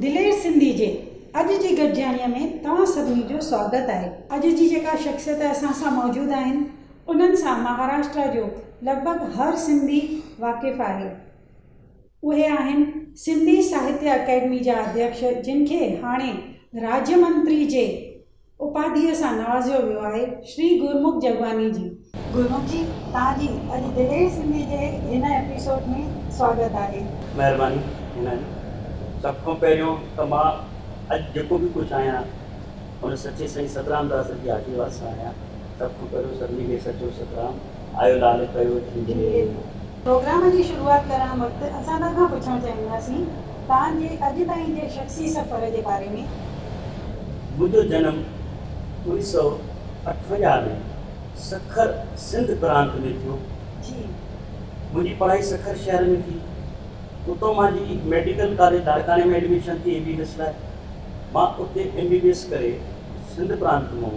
دلير سنڌي جي اڄ جي گڏجاڻيء ۾ توهان سڀني جو سواگت آهي. اڄ جي جيڪا شخصيت اسان سان موجود آهن انهن سان مهاراشٽرا جو لڳ ڀڳ هر سنڌي واقف آهي. اهي آهن سنڌي ساهتيه اڪيڊمي جا اڌيڪش جن کي هاڻي راڄ منتري جي اپاڌيء سان نوازيو ويو آهي شري گرمک جگواني جي. گرمک جي توهان جي اڄ دلير سنڌي جي هن ايپيسوڊ ۾ سواگت آهي. مهرباني هينا جي. سڀ کان پهريون ته مان اڄ جيڪو به ڪجهه آهيان ان سچي سائين سترام داس جي آشيرواد سان آهيان. سڀ کان پهريون سڀني کي سچو سترام. آيو لالچ پيو ٿيندي. پروگرام جي شروعات ڪرڻ وقت اسان توهان کان پڇڻ چاهينداسين توهان جي اڄ تائين جي شخصي سفر جي باري ۾. منهنجو جنم انيس سئو اٺونجاهه ۾ سکر سنڌ پرانت ۾ ٿيو. منهنجي پڙهائي سکر شهر ۾ ٿي. اتو مان جي ميڊيڪل ڪاليج لاڙڪاڻي ۾ ايڊميشن ٿي ايم بي بي ايس لاء. مان اتي ايم بي بي ايس ڪري سنڌ پرانت مون.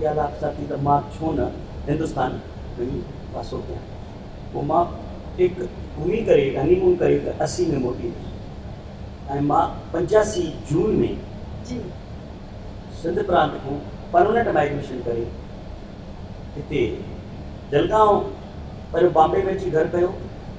اها رات ڪا ٿي ته مان ڇو نه هندستان وڃي واسو ڪيان. پوء مان ٽيڪ گهمي ڪري، هني مون ڪري ته اسي ۾ موٽي ايندس ۽ مان پنجاسي جون ۾ سنڌ پرانت کان پرمننٽ مائگريشن ڪري هتي جلگائون پهريون بامبي ۾ اچي گهر ڪيو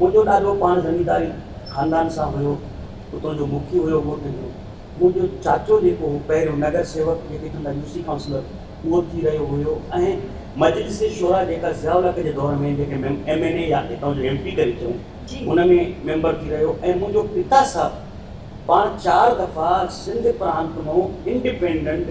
منهنجو ڏاڏو پاڻ زمينداري خاندان سان هيو، اتو جو مکي هيو ڳوٺ جو. منهنجو چاچو جيڪو هو پهريون نگر سيوڪ جيڪي چوندا يو سي ڪائونسلر اهو ٿي رهيو هيو ۽ مجلس شورا جيڪا ضياء الحق جي دور ۾ جنهن کي ايم اين اي يا اتان جو ايم پي ڪري چئون ان ۾ ميمبر ٿي رهيو ۽ منهنجو پتا صاحب پاڻ چار دفعا سنڌ پرانت مون انڊيپينڊنٽ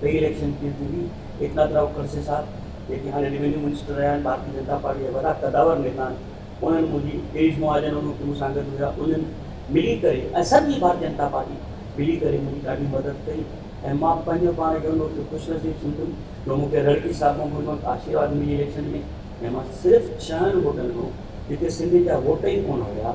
ٻئي اليڪشن ڪيئن ٿيندي؟ ايڪناٿ راء کڙسي صاحب جيڪي هاڻي ريونيو منسٽر رهيا آهن ڀارتي جنتا پارٽي جا وڏا قداور نيتا آهن انهن منهنجي گريش مهاجن ان وقت مون سان گڏ هيا انهن ملي ڪري ۽ سڄي ڀارتي جنتا پارٽي ملي ڪري منهنجي ڏاڍي مدد ڪئي ۽ مان پنهنجو پاڻ کي ان وقت خوش نصيب سمجهندم جو مون کي رڙڪي صاحب کان ان وقت آشيرواد ملي اليڪشن ۾ ۽ مان صرف ڇهن ووٽن کان جتي سنڌين جا ووٽ ئي ڪونه هيا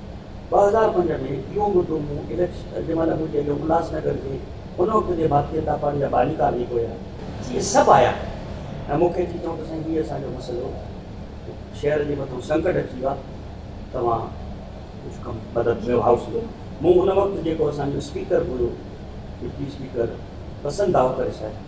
ٻه هزار پنج ۾ اهو مدو مون اليڪشن جنهن مهل مون چيو جو الهاس نگر جي ان وقت جي ڀارتي جنتا پارٽي جا باني ڪار جيڪو هيا، جي سڀ آيا ۽ مون کي اچي چيو ته سائين هي اسان جو مسئلو شهر جي مٿان سنڪٽ اچي ويو آهي توهان ڪجهه ڪم مدد ڪيو هائوس جو مون ان وقت جيڪو اسان جو اسپيڪر هيو ڊپٽي اسپيڪر پسند آهو ڪري صاحب.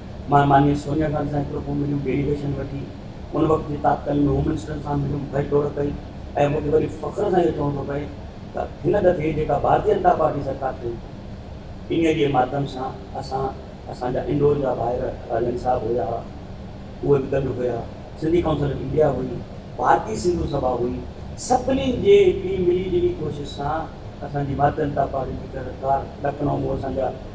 مان مانيء سونيا گانڌي سان هڪڙو ڪو مليم، ڊيليگيشن وٺي، ان وقت جي تاتڪالين هوم منسٽر سان مليم، ڀڄ ڊوڙ ڪئي ۽ مون کي وري فخر سان اهو چوڻو ٿو پئي ته هن دفعي جيڪا ڀارتي جنتا پارٽي سرڪار ٺهي ٿي، انهيء جي ماڌيم سان اسان، اسان جا انڊور جا ڀائر راڄاڻي صاحب هيا، اهي به گڏ هيا، سنڌي ڪائونسل آف انڊيا هئي، ڀارتي سنڌو سڀا هئي، سڀني جي هڪڙي ملي جلي ڪوشش سان اسان جي ڀارتي جنتا پارٽي جي سرڪار لکنؤ ۾ اسان جا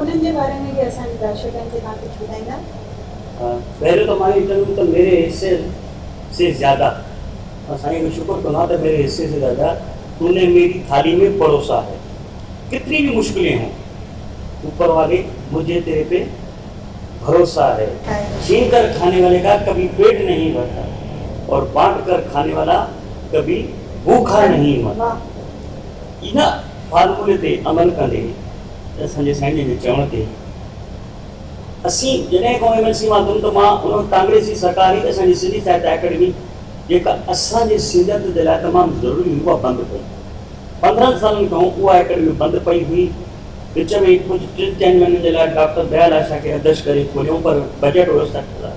انهن جي باري ۾ به اسان جي درشڪن کي توهان ڪجهه ٻڌائيندا؟ پهريون ته ماني چوندم ته ميري حصي سي زياده مان سائين جو شڪر ڪندو آهيان ته ميري حصي سي زياده تو ني ميري ٿالي مي پروسا هي ڪتني بي مشڪلين هون اوپر والي مجهي تيري پي ڀروسا هي ڇين ڪر کاني والي ڪا ڪبي پيٽ نهين ڀرتا اور بانٽ ڪر کاني والا ڪبي ڀوکا نهين مرتا. ان فارمولي تي عمل ڪندي اسان جي سائين جن جي چوڻ تي اسين جڏهن کان ايم اين سي مان ٿيم ته مان ان وقت ڪانگريسي سرڪار هئي ته اسان جي سنڌي ساهتيه اڪيڊمي جيڪا اسان جي سيڙت جي لاء تمام ضروري هئي اها بند پئي پندرهن سالن کان اها اڪيڊمي بند پئي هئي وچ ۾ ڪجهه ٽن چئن مهينن جي لاء ڊاڪٽر ديال آشا کي اڌيڪش ڪري کوليون پر بجيٽ هيس سٺ هزار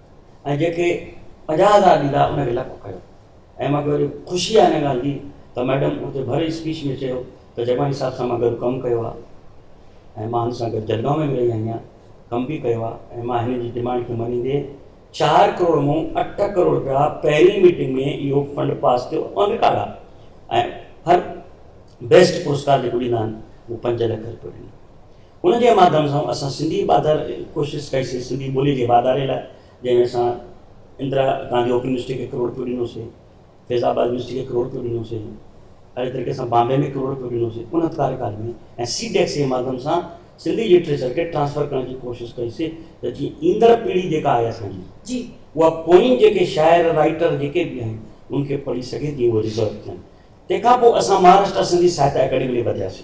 ۽ جيڪي پنجاهه هزار ڏيندا ان کي لک ڪيو ۽ مان کي وڏي خوشي آهي ان ڳالهه جي ته ميڊم اتي ڀري اسپيچ ۾ چيو ته جگاڻي صاحب سان مان گڏ ڪم ڪيو آهي ۽ مان هن سان گڏ جلگاؤ ۾ به رهي آئي آهيان ڪم به ڪيو آهي ۽ مان هن جي ڊيمانڊ کي مڃيندي چار ڪروڙ مون اٺ ڪروڙ رپيا پهرين ميٽنگ ۾ اهو فنڊ پاس ٿيو آن رڪارڊ آهي ۽ هر بيسٽ پرسڪار جيڪو ڏيندا آهن اهو پنج لک رپيو ڏنو ان جي ماڌيم سان اسان سنڌي واڌار ڪوشش ڪئي سي سنڌي ٻولي جي واڌاري لاء جنهن ۾ اسان اندرا گانڌي اوپن يونيورسٽي کي ڪروڙ رپيو ڏنو سي فيض آباد يونيورسٽي کي ڪروڙ رپيو ڏنو سي اهڙي طريقي سان بامبي ۾ ڪروڙ رپيو ڏنو سي ان ڪاريڪال ۾ ۽ سي ڊيڪس جي ماڌيم سان سنڌي لٽريچر کي ٽرانسفر ڪرڻ جي ڪوشش ڪئي سي ته جيئن ايندڙ پيڙهي جيڪا آهي اسان جي اها پوئين جيڪي شاعر رائيٽر جيڪي به آهن ان کي پڙهي سگهي تيئن اهي ريزرو ٿين تنهن کان پوء اسان مهاراشٽرا سنڌي ساهتيه اڪيڊمي ڏي وڌياسي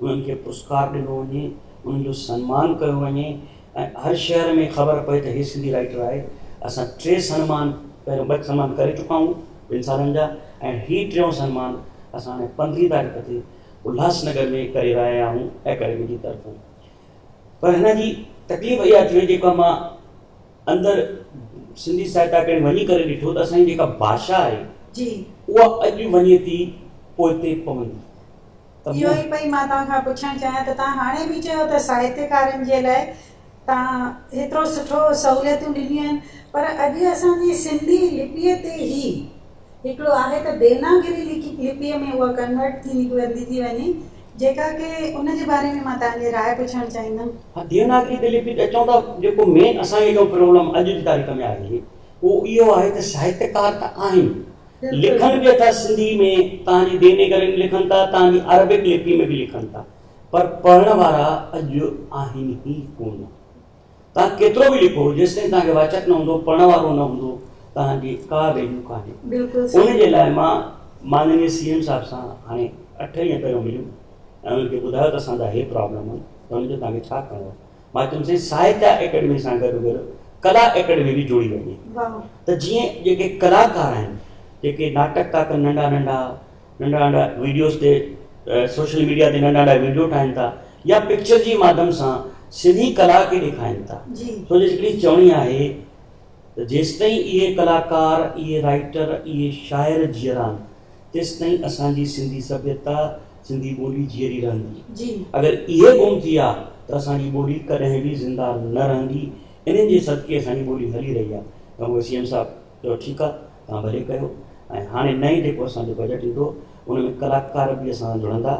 انهن کي پرسڪار ڏنو وڃي، انهن جو سنمان ڪيو وڃي ۽ هر شهر ۾ خبر پئي ته هي سنڌي رائيٽر آهي. اسان ٽي سنمان پهريون ٻه سنمان ڪري چڪا آهيون ٻن سالن جا ۽ هي ٽيون سنمان اسان هاڻي پندرهين تاريخ تي الهاس نگر ۾ ڪري رهيا آهيون اڪيڊمي جي طرفون پر هن جي تڪليف اها ٿي وئي جيڪا مان اندر سنڌي ساهت اڪيڊمي وڃي ڪري ڏٺو ته اسان جي جيڪا ڀاشا آهي جي اها اڄ وڃي ٿي پوئتي پوندي اهو ئي پئي مان توهان کان پڇڻ چاهيان ته توهان هاڻي به چيو ته ساهتيڪارن جي لاء توهان هيترو سٺو سهوليتون ڏنيون آهن پر اڄ اسان جي سنڌي لپيء تي هي هڪڙو آهي ته ديوناگري لپيء ۾ اها ڪنورٽ ٿي ويندي ٿي وڃي جيڪا ڪي ان جي باري ۾ مان توهان جي راء پڇڻ چاهيندم. ها ديوناگري تي لپي اچون ته جيڪو مين اسان جي جو پرابلم اڄ جي تاريخ ۾ آهي اهو اهو آهي ته ساهتيڪار ته آهن لکن به اٿا سنڌي ۾ تان جي ديونيگري ۾ لکن ٿا تان جي عربڪ لپي ۾ به لکن ٿا پر پڙهڻ وارا اڄ آهن ئي ڪون تان ڪيترو به لکو جيستائين تان کي واچڪ نه هوندو پڙهڻ وارو نه هوندو تان جي ڪا ويليو ڪانهي ان جي لاء مان مانني سي ايم صاحب سان هاڻي اٺ ڏينهن پهريون مليم ۽ ان کي ٻڌايو ته اسان جا هي پرابلم آهن ته ان جو تان کي ڇا ڪرڻو آهي مان چيم سائين ساهتيا ايڪيڊمي سان گڏو گڏ ڪلا ايڪيڊمي به جوڙي وڃي ته جيئن جيڪي ڪلاڪار آهن جيڪي ناٽڪ ٿا ڪن ننڍا ننڍا ننڍا ننڍا ويڊيوز تي سوشل ميڊيا تي ننڍا ننڍا ويڊيو ٺاهن ٿا يا پڪچر جي ماڌم سان سنڌي ڪلا کي ڏيکارين ٿا سو جو هڪڙي چوڻي آهي ته جيستائين اهي ڪلاڪار اهي رائٽر اهي شاعر جيئرا تيستائين اسان جي سنڌي سڀيتا، سنڌي ٻولي جيئري رهندي. اگر اهي گم ٿي ها ته اسان جي ٻولي ڪڏهن به زنده نه رهندي. انهن جي صدقي اسان جي ٻولي هلي رهي آهي. تنهن هوندي سي ايم صاحب چيو ٺيڪ آهي توهان ڀلي ڪيو ۽ هاڻي نئين جيڪو اسان جو بجيٽ ايندو ان ۾ ڪلاڪار به اسان سان جڙندا.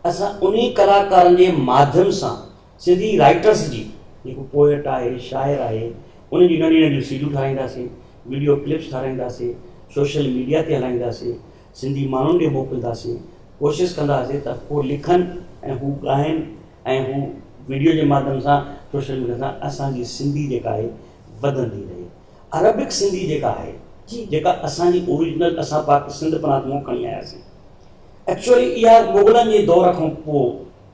اسان انهي ڪلاڪارن جي ماڌيم سان سنڌي رائيٽرس جي جيڪو پوئٽ آهي، شاعر آهي، انهن جون ننڍيون ننڍيون سيڊون ٺاهرائينداسين، وڊيو ڪلپس ٺاهرائينداسين، سوشل ميڊيا تي هلائينداسين، سنڌي ماڻهن ڏي موڪلداسين، ڪوشش ڪنداسين ته هو لکن ۽ هو ڳائين ۽ هو وڊيو جي ماڌيم سان سوشل ميڊيا سان اسان جي سنڌي جيڪا آهي وڌندي رهي. عربڪ سنڌي جيڪا آهي جيڪا اسان جي اوريجنل اسان پاڪ سنڌ پرانت مون کڻي آياسين ايڪچوئلي اها مغلن جي دور کان پوء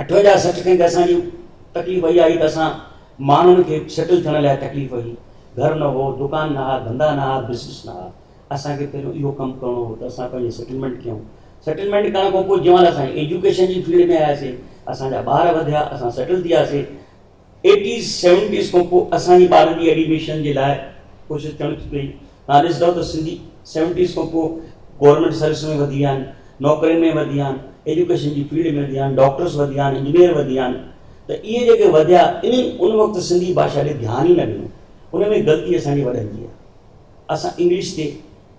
اٺوينجاهه سٺ کن ته اسان جي تڪليف اها هئي ته اسان ماڻهن کي سيٽل ٿيڻ لاء تڪليف هئي، گهر نه هو، دڪان نه ها، ڌنڌا نه ها، بزنس نه ها، اسان کي پهريون اهو ڪم ڪرڻو هو ته اسان پنهنجي سيٽلمينٽ ڪيون، سيٽلمينٽ ڪرڻ کان پوء جيئن مهل اسان ايجوڪيشن جي فيلڊ ۾ آياسي، اسان جا ٻار وڌيا، اسان سيٽل ٿياسي، ايٽيز سيونٽيز کان پوء اسان جي ٻارن جي ايڊيميشن جي لاء ڪوشش ٿيڻ ٿي پئي. توهان ڏسندؤ ته سنڌي سيونٽيز کان پوء گورنمينٽ سروس ۾ وڌي ويا آهن، نوڪرين ۾ وڌي ويا آهن، ايجوڪيشن جي فيلڊ ۾ وڌي ويا آهن، ڊاڪٽرس وڌي ويا آهن، انجنيئر وڌي ويا آهن ته اهي جيڪي وڌيا انهن ان وقت سنڌي ڀاشا ڏي ڌيان ئي نه ڏنو. ان ۾ غلطي اسان جي وڏن جي آهي. اسان انگلش تي.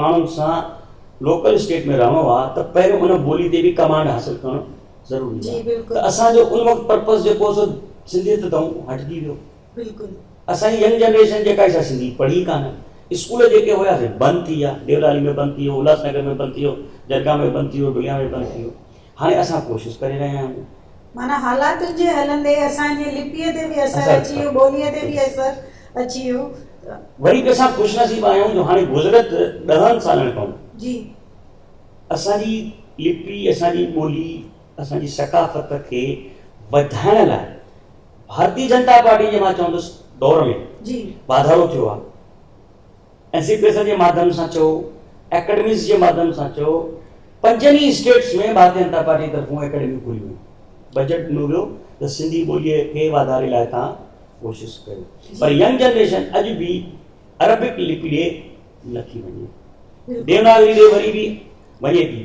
ماڻهن سان لوڪل اسٽيٽ ۾ رهڻو آ ته پهريون ان ٻولي تي به ڪمانڊ حاصل ڪرڻ ضروري آ ته اسان جو ان وقت پرپز جيڪو هو سو سنڌيت تائون هٽجي ويو بلڪل اسان جي ينگ جنريشن جيڪا سا سنڌي پڙهي ڪانه اسڪول جيڪي هيا سي بند ٿي ويا ديولالي ۾ بند ٿي ويو الهاس نگر ۾ بند ٿي ويو درگاهه ۾ بند ٿي ويو ڊوليا ۾ بند ٿي ويو هاڻي اسان ڪوشش ڪري رهيا آهيون. معنيٰ حالاتن جي هلندي اسان جي لپيء تي به اثر اچي ويو، ٻوليء تي به اثر اچي ويو ته. وري به اسان خوش نصيب آهيون جو هاڻي گذريل ڏهن سالن کان جي. اسان جي لپي، اسان جي ٻولي، اسان جي ثقافت کي وڌائڻ لاء ڀارتي جنتا پارٽي جي مان چوندس دور ۾ جي. واڌارو ٿيو آهي. اين سي پي ايس جي ماڌيم سان چئو، اڪيڊميز جي ماڌيم سان چئو، پنجن ئي اسٽيٽس ۾ ڀارتي جنتا پارٽي طرفون اڪيڊميون کوليون ويون، بجيٽ ڏنو ويو ته سنڌي ٻوليء کي واڌاري لاء توهان ڪوشش ڪيو پر ينگ جنريشن اڄ به عربڪ لپي ڏي نٿي وڃي، ديوناگري ڏي وري به وڃي ٿي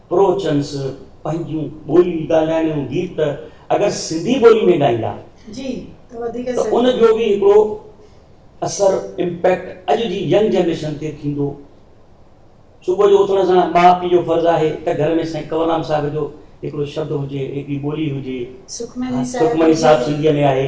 پروچنس پنهنجون ٻوليون ڳالهائڻ جون گيت اگر سنڌي ٻولي ۾ ڳائيندا ته ان جو به هڪڙو اثر امپيڪٽ اڄ جي ينگ جنريشن تي ٿيندو. صبح جو اٿڻ سان ماء پيء جو فرض آهي ته گهر ۾ سائين ڪنوررام صاحب جو هڪڙو شبد هجي، هڪڙي ٻولي هجي. سکمني صاحب سنڌيء ۾ آهي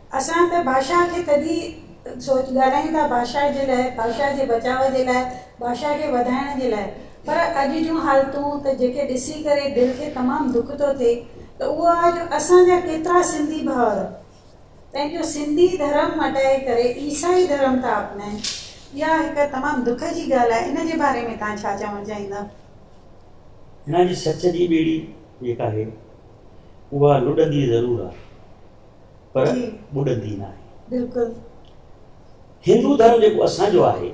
اسان ته بادشاهه کي تڏهن ئي سوچ ڳالهايون ٿا بادشاهه جي لاء بادشاهه جي بچاء جي لاء بادشاهه کي وڌائڻ جي لاء پر اڄ جون حالتون ته جيڪي ڏسي ڪري دل کي تمام دک ٿو ٿئي ته اهو آهي جو اسان جا ڪيترا سنڌي ڀائر پنهنجو سنڌي ڌرم مٽائي ڪري عيسائي ڌرم ٿا اپنائين اها هڪ تمام دک جي ڳالهه آهي ان جي باري ۾ توهان ڇا چوڻ چاهيندا؟ هن جي سچ جي ٻيڙي جيڪا آهي اها لڏندي ضرور آهي. پر ٻڏندي ناهي. بلڪل هندو ڌرم جيڪو اسان جو آهي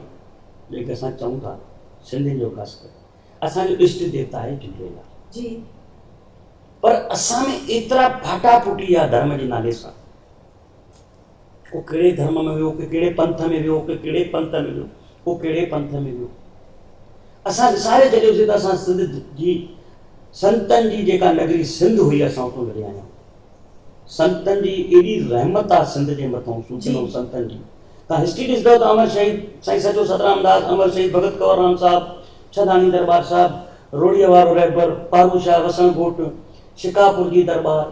جنهن کي اسان چئون ٿا سنڌين جو خاص ڪري اسان جو اشٽ ديوتا آهي جهوليلال جي پر اسان ۾ ايترا ڦاٽا ڦوٽي آ ڌرم جي نالي سان ڪو ڪهڙي ڌرم ۾ ويو ڪو ڪهڙي پنٿ ۾ ويو ڪو ڪهڙي پنت ۾ ويو ڪو ڪهڙي پنٿ ۾ ويو اسان وساري ڇڏيوسي ته اسان سنڌ جي سنتن جي جيڪا نگري سنڌ هئي اسان اتو لڏي آيا آهيون سنتن جي ايڏي رحمت آ سنڌ جي مٿان صوفين ۽ سنتن جي تان هسٽري ڏسندؤ ته امر شهيد سائين سچو سترام داس امر شهيد ڀڳت ڪنور رام صاحب ڇهداڻي درٻار صاحب روڙيء وارو رهبر پارو شاهه وسڻ ڳوٺ شڪارپور جي درٻار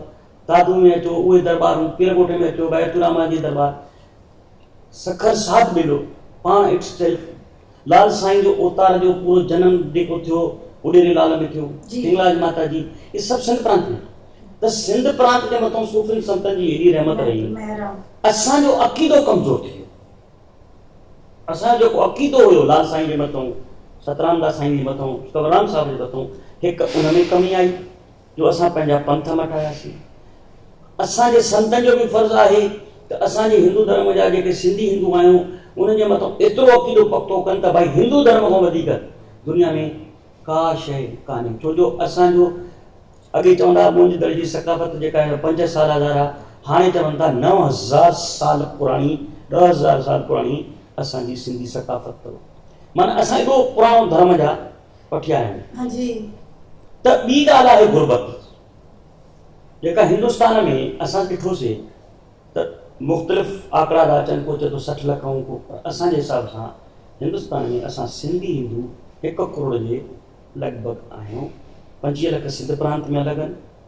دادو ۾ اچو اهي درٻارون پير ڳوٺ ۾ اچو بيعتالرحمان جي درٻار سکر ساڌ ٻيلو پاڻ اٽس سيلف لال سائين جو اوتار جو پورو جنم جيڪو ٿيو اهو ڏيري لال ۾ ٿيو، هنگلاج ماتا جي اهي سڀ سنڌ پرانت ۾ ته سنڌ پرانت جي مٿان صوفين سنتن جي هيڏي رحمت رهي اسان جو عقيدو ڪمزور ٿي ويو اسان جو جيڪو عقيدو هيو لال سائين جي مٿان سترام داس سائين جي مٿان ڪنورام صاحب جي مٿان هڪ ان ۾ ڪمي آئي جو اسان پنهنجا پنٿ مٽاياسين. اسان جي سنتن جو به فرض آهي ته اسان جي هندو ڌرم جا جيڪي سنڌي هندو آهيون انهن جي مٿان ايترو عقيدو پختو ڪن ته ڀائي هندو ڌرم کان وڌيڪ دنيا ۾ ڪا شيء ڪانهي ڇو جو اسان جو اڳي چوندا هئا منهنجي دل جي ثقافت جيڪا هن پنج هزار سال هزار آهي هاڻي چون ٿا نو هزار سال پراڻي ڏهه هزار سال پراڻي اسان جي سنڌي ثقافت اٿو معنيٰ اسان ايڏو پراڻو ڌرم جا پٺيان آهن ته ٻي ڳالهه آهي غربت جيڪا هندستان ۾ اسان ڏٺوسي ته مختلف آڪڙا ٿا اچن ڪو چئي ٿو سٺ لک ۽ ڪو پر اسان جي حساب سان هندستان ۾ اسان سنڌي هندو هڪ ڪروڙ جي لڳ ڀڳ آهيون پنجويهه لک سنڌ پرانت ۾ الڳ آهن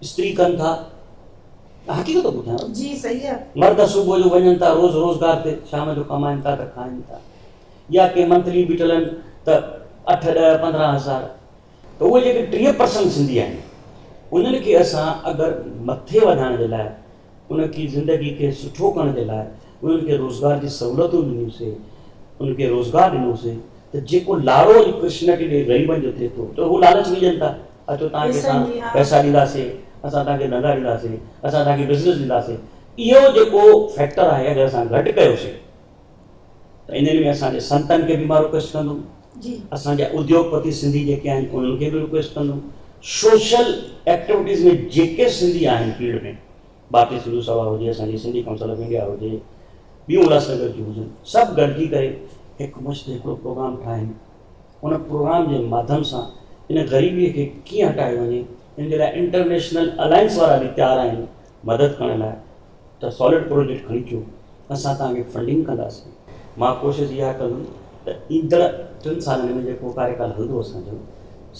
استري ڪن ٿا ته حقيقت ٿو ٻڌايان جي صحيح آ مرد صبح جو وڃن ٿا روز روزگار تي شام جو ڪمائن ٿا ته کائن ٿا يا ڪي منٿلي به ٽلن ته اٺ ڏهه پندرهن هزار ته اهي جيڪي ٽيهه پرسنٽ سنڌي آهن انهن کي اسان اگر مٿي وڌائڻ جي لاء انهن کي زندگي کي سٺو ڪرڻ جي لاء انهن کي روزگار جي سهولتون ڏنيون سي انهن کي روزگار ڏنو سي ته جيڪو لارو اڄ ڪرشن ڪي ڏي غريبن جو ٿئي ٿو ته هو لالچ وجهن ٿا اچو توهان کي اسان پئسا ڏيندا سي اسان توهان کي ڌندا ڏيندا سي اسان توهان کي بزنس ڏيندا سي اهو جيڪو فيڪٽر آهي اگر اسان گهٽ ڪيو سي ته انهن ۾ اسان جي سنتن کي به مان رڪويسٽ ڪندم اسان جا اديوگ پتي سنڌي جيڪي آهن انهن کي به رڪويسٽ ڪندم سوشل ايڪٽيوٽيز ۾ جيڪي سنڌي آهن فيلڊ ۾ ڀارتي سنڌو سڀا هجي اسان جي سنڌي ڪائونسل آف انڊيا هجي ٻيون الهاسنگر جون هجن سڀ گڏجي ڪري هڪ مشت هڪڙو پروگرام ٺاهين ان پروگرام جي ماڌيم سان ان غريبي کي ڪيئن هٽايو وڃي ان جي لاء انٽرنيشنل الائنس وارا به تيار آهن مدد ڪرڻ لاء ته سالڊ پروجيڪٽ کڻي اچو اسان توهان کي فنڊنگ ڪنداسين. مان ڪوشش اها ڪندم ته ايندڙ ٽن سالن ۾ جيڪو ڪاريڪال هلندو اسان جو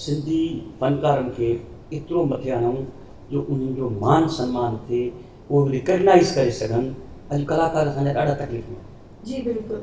سنڌي فنڪارن کي ايترو مٿي آڻون جو انهن جو مان سنمان ٿئي اهي رڪگنائيز ڪري سگهن اڄ ڪلاڪار اسان جا ڏاڍا تڪليف ۾ آهن. جي بلڪل.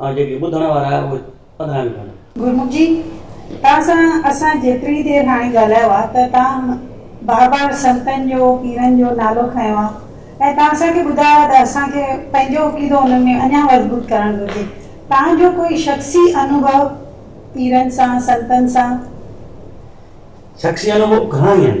۽ جيڪي ٻڌڻ وارا آهي اهي ٻڌڻا به پوندن. گرمک جي توهان سان اسان جيتري دير هاڻي ڳالهايو آ ته توهان بار بار سنتن جو پيرن جو نالو کنيو آ ۽ توهان اسان کي ٻڌايو آ ته اسان کي پنهنجو عقيدو انهن ۾ اڃان مضبوط ڪرڻ گهرجي توهان جو ڪوئي شخصي انوڀو پيرن سان سنتن سان. شخصي انوڀو گهڻا ئي آهن.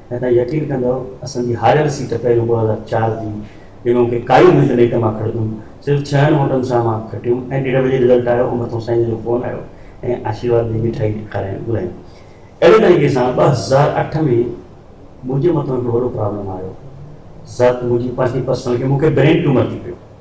۽ توهان يقين ڪندؤ اسان جي هاريل سيٽ پهريون ٻه هزار چار جي ڏنو کي ڪايون منهنجي نيٽ مان کڙديون صرف ڇهن ووٽن سان مان کٽيم ۽ ڏيڍ بجي رزلٽ آيو ۽ مٿو سائين جو فون آيو ۽ آشيرواد ڏئي مٺائي کارائڻ گهرايون اهڙي طريقي سان ٻه هزار اٺ ۾ منهنجي مٿو هڪڙو وڏو پرابلم آيو ذات منهنجي پنهنجي پرسنل کي مون کي برين ٽيومر ٿي پيو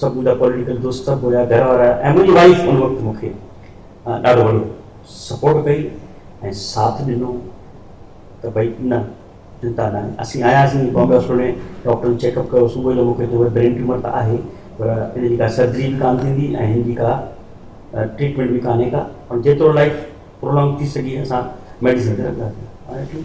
سڀ منهنجا پوليٽيڪل دوست سڀ هيا گهر وارا ۽ منهنجي وائيف ان وقت مون کي ڏاڍو وڏو سپورٽ ڪئي ۽ ساٿ ڏنو ته ڀئي نه چنتا نه آهي اسين آياسين بامبي هاسپيٽل ۾ ڊاڪٽرن چيڪ اپ ڪيو صبح جو مون کي چيو برين ٽيومر ته آهي پر ان جي ڪا سرجري به ڪانه ٿيندي ۽ هن جي ڪا ٽريٽمينٽ به ڪانهي ڪا پر جيترو لائف پرولانگ ٿي سگهي اسان ميڊيسن تي رکنداسين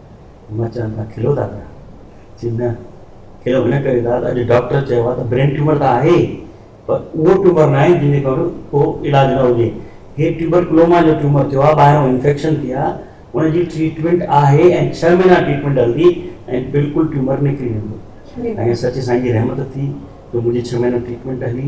مرچان ٿا کلو ٿا پيا چي نه کلو هن ڪري ٿا اڄ ڊاڪٽر چيو آهي ته برين ٽيومر ته آهي پر اهو ٽيومر ناهي جن جو ڪو علاج نه هجي هي ٽيوبر ڪلوما جو ٽيومر ٿيو آهي ٻاهران انفيڪشن ٿي آهي ان جي ٽريٽمينٽ آهي ۽ ڇهه مهينا ٽريٽمينٽ هلندي ۽ بلڪل ٽيومر نڪري ويندو ۽ سچي سائين جي رحمت ٿي جو منهنجي ڇهه مهينا ٽريٽمينٽ هلي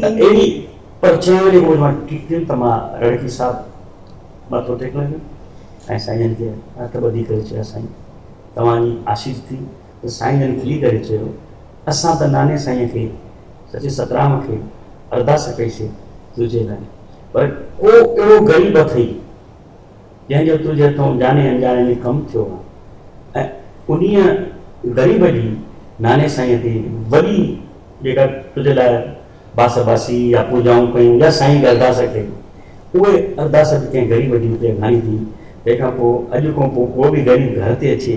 ته اهڙي پر جنهن ويلي هوء ماٺ ٺيڪ ٿيون ته مان رڙڪي صاحب مٿو ٽيڪڻ لڳم ۽ سائين جن کي هٿ ٻڌي ڪري چيو سائين توهان جي آشيس ٿي ته سائين جن کلي ڪري چيو اسان ته ناني سائينء کي سچي سترام کي ارداس ڪئي سي تنهنجي لاء پر ڪو اهڙو غريب اٿئي جنهن جو تنهنجي هٿئون ڄاڻي اڻڄاڻي ۾ ڪم ٿيو آهي ۽ انهيء غريب جي ناني سائينء تي وڏي جيڪا تنهنجي لاء باس باسي يا پوڄائون ڪيون يا سائينء جي ارداس ڪئي، اهي ارداس به ڪنهن غريب جي اتي اگهاڻي ٿي، تنهن کان پوء اڄ کان پوء ڪو به غريب گهر تي اچي،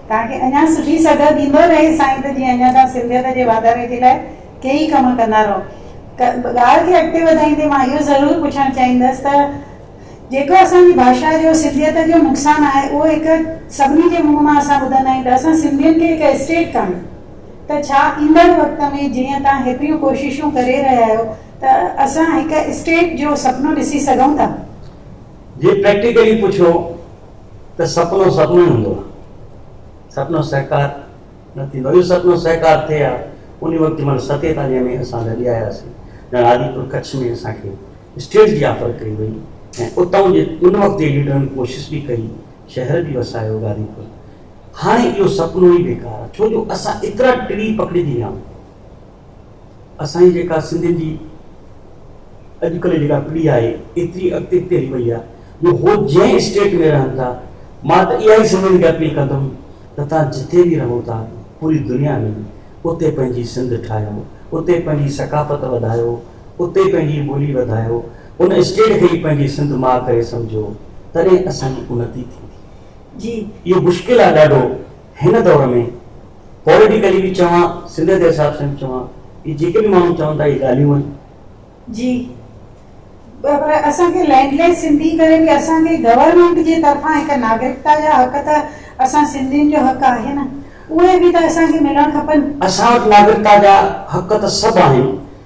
توهان کي اڃان سٺي صدا ڏيندو رهي سائين ته جيئن اڃان توهان سنڌيت جي واڌاري جي لاء ڪيئي ڪم ڪندا رهو. ڳالهه کي اڳتي وڌائيندي مان اهو ضرور پڇڻ چاهيندس ته جيڪو اسان جي ڀاشا جو سنڌيت جو نقصان آهي اهو هڪ سڀني جي منهن مان اسان ٻڌندا آهيون ته اسان سنڌين کي هڪ اسٽيٽ ڪاڻي ته ڇا ايندڙ وقت ۾ جيئن توهان هيتريون ڪوششون ڪري رهيا آهيو ته اسان هڪ اسٽيٽ جو سپنو ڏسي سگهون ٿا؟ جي پريڪٽيڪلي پڇو ته سپنو سپنو ئي هوندو آهي، سپنو سهڪار نه ٿيندو آهي. اهو سپنو سهڪار ٿئي ها، ان وقت جنهن مهل ستيتاليهه ۾ اسان لڏي آياسين، ڄڻ آديپور ڪڇ ۾ اسان کي اسٽيٽ جي آفر ڪئي وئي ۽ اتان جي ان وقت جي ليڊرن ڪوشش به ڪئي، شهر به وسايو گاديپور. هاڻي اهو سپنو ئي بيڪار آهي، ڇو جو اسان ايترا ٽڙي پکڙجي ويا آهيون. اسان جي جيڪا سنڌين جي اڄ ڪلهه جيڪا پڙهي آهي ايتري اڳتي اڳتي هلي وئي آهي جو هو جنهن اسٽيٽ ۾ رهن ٿا مان ته اها ئي سنڌين کي اپيل ڪندم ته توهان جتي به رهو ٿا پوري دنيا ۾ اتي پنهنجي سنڌ ٺاهيو اتي پنهنجي ثقافت وڌايو اتي پنهنجي ٻولي وڌايو ان اسٽيٽ کي ئي پنهنجي سنڌ ماء ڪري سمجهو تڏهن اسان جي انتي ٿيندي. جي اهو مشڪل آهي ڏاڍو. هن دور ۾ پوليٽيڪلي به چوان سنڌ جي حساب سان به چوان هي جيڪي به ماڻهو چون ٿا هي ڳالهيون آهن. جي پر اسان کي لينڊ ليس سنڌي ڪري به اسان کي گورنمينٽ جي طرفان هڪ ناگرڪتا جا حق ته اسان سنڌين جو حق آهي نه اهي به ته اسان کي ملڻ کپن. اسان وٽ ناگرڪتا جا حق ته سڀ آهن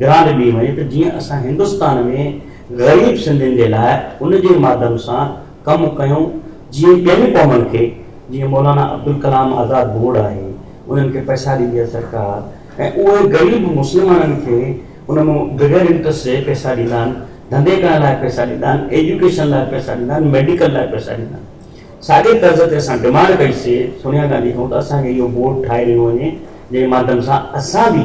گرانٽ ڏني وڃي ته جيئن اسان هندستان ۾ غريب سنڌين جي لاء ان جي مادم سان ڪم ڪيون جيئن ٻين قومن کي جيئن مولانا عبدالڪلام آزاد بورڊ آهي انهن کي پئسا ڏيندي آهي سرڪار ۽ اهي غريب مسلمانن کي ان ۾ بغير انٽرسٽ جي پئسا ڏيندا آهن ڌنڌي ڪرڻ لاء پئسا ڏيندا آهن ايجوڪيشن لاء پئسا ڏيندا آهن ميڊيڪل لاء پئسا ڏيندا آهن ساڳي طرز تي اسان ڊمانڊ ڪئي سي سونيا گانڌي کان ته اسان کي اهو بورڊ ٺاهي ڏنو وڃي جنهن جي مادم سان اسان به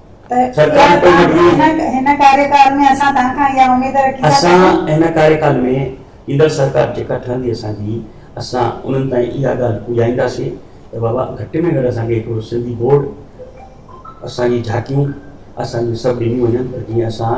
ته اها توهان هن ڪاريڪال ۾ اسان توهان کان اها اميد رکي ٿا ته. اسان هن ڪاريڪال ۾ ايندڙ سرڪار جيڪا ٺهندي اسان جي اسان انهن تائين اها ڳالهه پڄائينداسين ته بابا گهٽ ۾ گهٽ اسان کي هڪڙو سنڌي بورڊ اسان جي جهاڪيون اسان جون سڀ ڏنيون وڃن ته جيئن اسان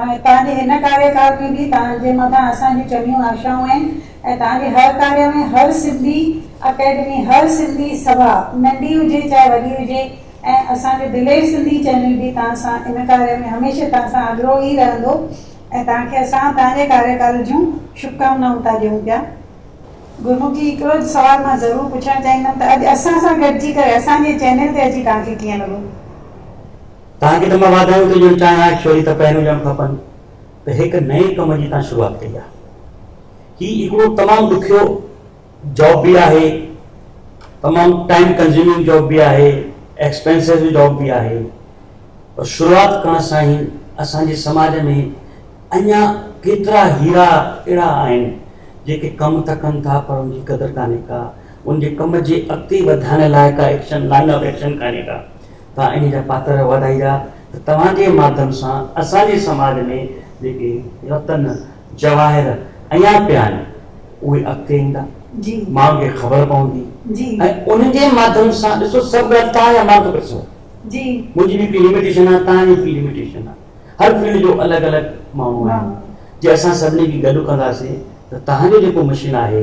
۽ توهان جي هن ڪاريڪال ۾ به توهان جي مٿان اسان جون چڱيون آشائون آهن ۽ توهان جي هر ڪاري ۾ هر سنڌي اڪيڊمي، هر سنڌي سڀا، ننڍي هجي چاهي وڏي هجي ۽ اسان جو دلير سنڌي چينل به توهان سان ان ڪاري ۾ هميشه توهان سان اڳرو ئي رهندو ۽ توهان کي اسان توهان جي ڪاريڪال جون شڀڪامنائون ٿا ڏيون پيا. گرمک جي هڪڙو سوال مان ضرور پڇڻ چاهيندم ته اڄ اسان سان گڏجي ڪري اسان جي چينل تي اچي توهان کي ڪيئن لڳو؟ توهان کي ته مان واڌايون ٿو ڏيڻ چاهيان اهي شيري ته پهريون ڄڻ کپن ته هڪ نئين ڪم جي توهان شروعات ڪئي آهي هي هڪڙو تمام ڏکيو جاب به آهي تمام ٽائيم ڪنزيومنگ جاب به آهي ايڪسپينسو جاب به آهي پر شروعات ڪرڻ سان ئي اسان جي سماج ۾ اڃا ڪيترا هيرا اهڙا آهن جيڪي ڪم ته ڪن ٿا پر ان جي قدر ڪانهي ڪا ان جي ڪم جي اڳتي وڌائڻ لاء ڪا ايڪشن لائن آف ايڪشن ڪانهي ڪا توهان انهيء جا پاتر واڌائيندا ته توهان جي ماڌيم سان اسان جي سماج ۾ جيڪي رتن، جواهر اڃا پيا آهن، اهي اڳتي ايندا، ماڻهن کي خبر پوندي ۽ انهن جي ماڌيم سان ڏسو سڀ ڳالهه توهان يا مان کي پئي سمجهه پوندي. منهنجي به هڪ لميٽيشن آهي، توهان جي به هڪ لميٽيشن آهي. هر فيلڊ جو الڳ الڳ ماڻهو آهن. جي اسان سڀني کي گڏ ڪنداسين ته توهان جو جيڪو مشن آهي،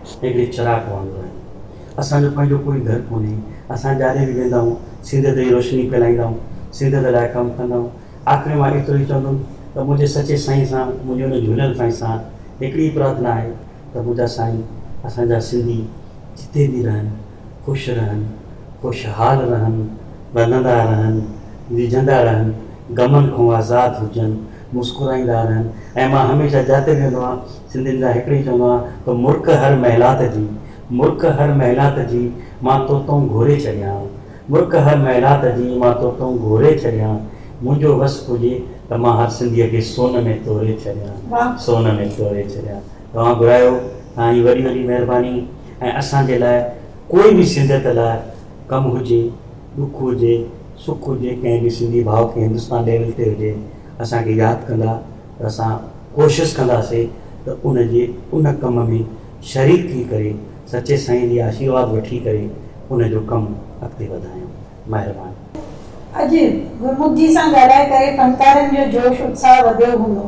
هڪڙي چراغ وانگر آهيون. اسان جو پنهنجو ڪوئي گهر ڪونهي. اسان جاڏي به ويندا آهيون، سينڌيت جي روشني ڦهلائيندا آهيون، سينڌيت لاء ڪم ڪندا آهيون. آخر مان ايترو ئي چوندم ته منهنجي سچي سائين سان، منهنجي ان جهوليل سائين سان هڪڙي ئي پرارٿنا آهي ته منهنجا سائين، اسان جا سنڌي جتي به رهن، خوش رهن، خوشحال رهن، ٻڌندا رهن، ڏيجهندا رهن، غمن کان آزاد هجن، مسڪرائيندا رهن ۽ مان هميشه جاتي ويندو آهيان، سنڌين جا هڪڙي چوندو آهيان ته مرڪ هر محلات جي، مرڪ هر محلات جي، مان توتئون گهوري ڇڏيان، مرڪ هر محلات جي، مان توتئون گهوري ڇڏيان، منهنجو وس پڄي ته مان هر سنڌيء کي سون ۾ توري ڇڏيان، سون ۾ توري ڇڏيان. توهان گهرايو، توهان جي وڏي وڏي مهرباني ۽ اسان جي لاء ڪوئي به سنڌيت لاء ڪم هجي، ڏک هجي، سک هجي، ڪنهن به سنڌي ڀاء کي هندستان ليول تي هجي، اسان کي ياد ڪندا. ته اسان ڪوشش ڪنداسي ته ان جي ان ڪم ۾ شريڪ ٿي ڪري سچي سائين جي آشيرواد وٺي ڪري ان جو ڪم اڳتي وڌايون. مهرباني. اڄ گرمک جي سان ڳالهائي ڪري فنڪارن جو جوش اتساهه وڌيو هوندو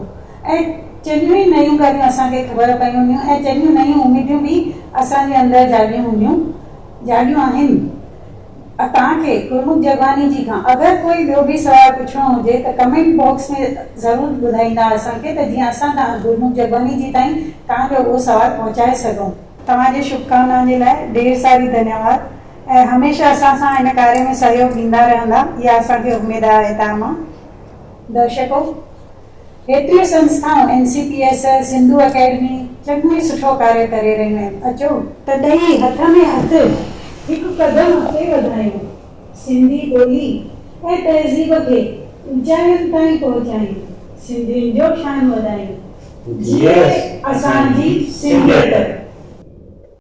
۽ چڱيون ئي نيون ڳالهيون اسان کي خبر پيون هونديون ۽ چڱيون نيون اميديون به اسان جي اندر جاڳيون هونديون جاڳيون آهن. اتان کي گرمک جگواني جي کان اگر ڪوئي ٻيو به سوال پڇڻو هجي ته ڪمينٽ باڪس ۾ ضرور ٻڌائيندا اسان کي ته جيئن اسان تان گرمک جگواني جي تائين تان جو اهو سوال پهچائي سگهون. توهان جي شڀڪامنائن جي لاء ڍير ساري ڌنيواد ۽ هميشه اسان سان هن ڪاري ۾ سهيوگ ڏيندا رهندا اها اسان کي اميد آهي تان مان درشڪو ڪيتريون سنسٿائون N C P S, Sindhu academy چڱو ئي سٺو ڪاري ڪري رهيون آهن اچو ته ڏئي هٿ ۾ هٿ هڪ قدم اڳتي وڌايون سنڌي ٻولي ۽ تهذيب کي اوچاين تائين پهچايون سنڌين جو شان وڌايون جيئي اسان جي سنڌيت.